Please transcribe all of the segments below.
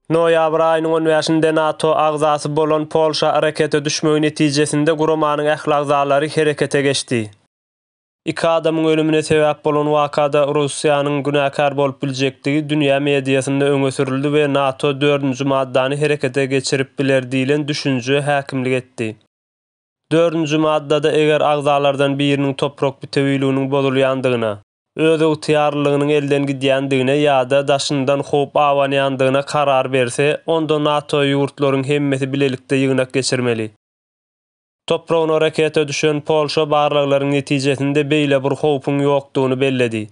Noýabr aýynyň on bäşinde NATO agzasy bolan Polşa arakete düşmegi netijesinde guramanyň ähli agzalary herekete geçdi. Iki adamyň ölümine sebäp bolan wakada Russiýanyň günäkär bolup biljekdigi dünýä mediasynda öňe sürüldi we NATO dördünji maddany herekete geçirip biler diýlen düşünje häkimlik etdi. Dördünji maddada eger agzalardan biriniň toprak bitewiliginiň bozulýandygyna, özygtyýarlylygynyň elden gidýändigine ýa-da daşyndan howp abanýandygyna karar berse, onda NATO ýurtlaryň hemmesi bilelikde ýygnak geçirmeli. Topragyna raketa düşen Polşa barlaglaryň netijesinde beýle bir howpuň ýokdugyny belledi.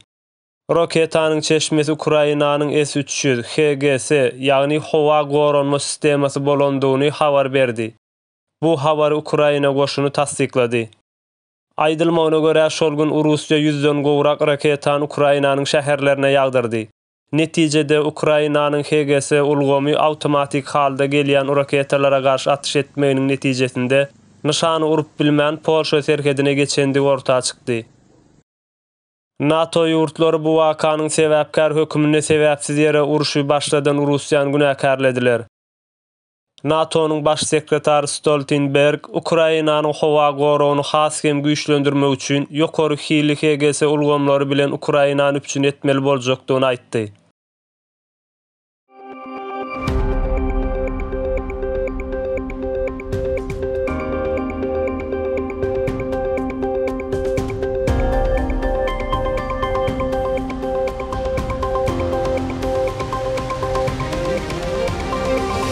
Raketanyň çeşmesi Ukrainanyň S üç ýüz, HGS, ýagny howa goranma sistemasy bolandygyny habar berdi. bu habary Ukraina goşuny tassyklady. Aýdylmagyna görä, şol gün Urussiýa ýüzden gowrak raketany Ukrainanyň şäherlerine ýagdyrdy. Netijede, Ukrainanyň HGS ulgamy awtomatik halda gelýän uraketalara garşy atyş etmeginiň netijesinde, nyşany urup bilmän, Polşa serhedine geçendigi orta çykdy. NATO ýurtlary bu wakanyň sebäpkär höküminde sebäpsiz ýere urşy başladan Urussiýany günäkärlediler. NATO-nyň Baş sekretary Stoltenberg Ukrainanyň howa goragyny has hem güýçlendirmek üçin ýokary hilli HGS ulgamlary bilen Ukrainany üpjün etmeli boljakdygyny aýtdy.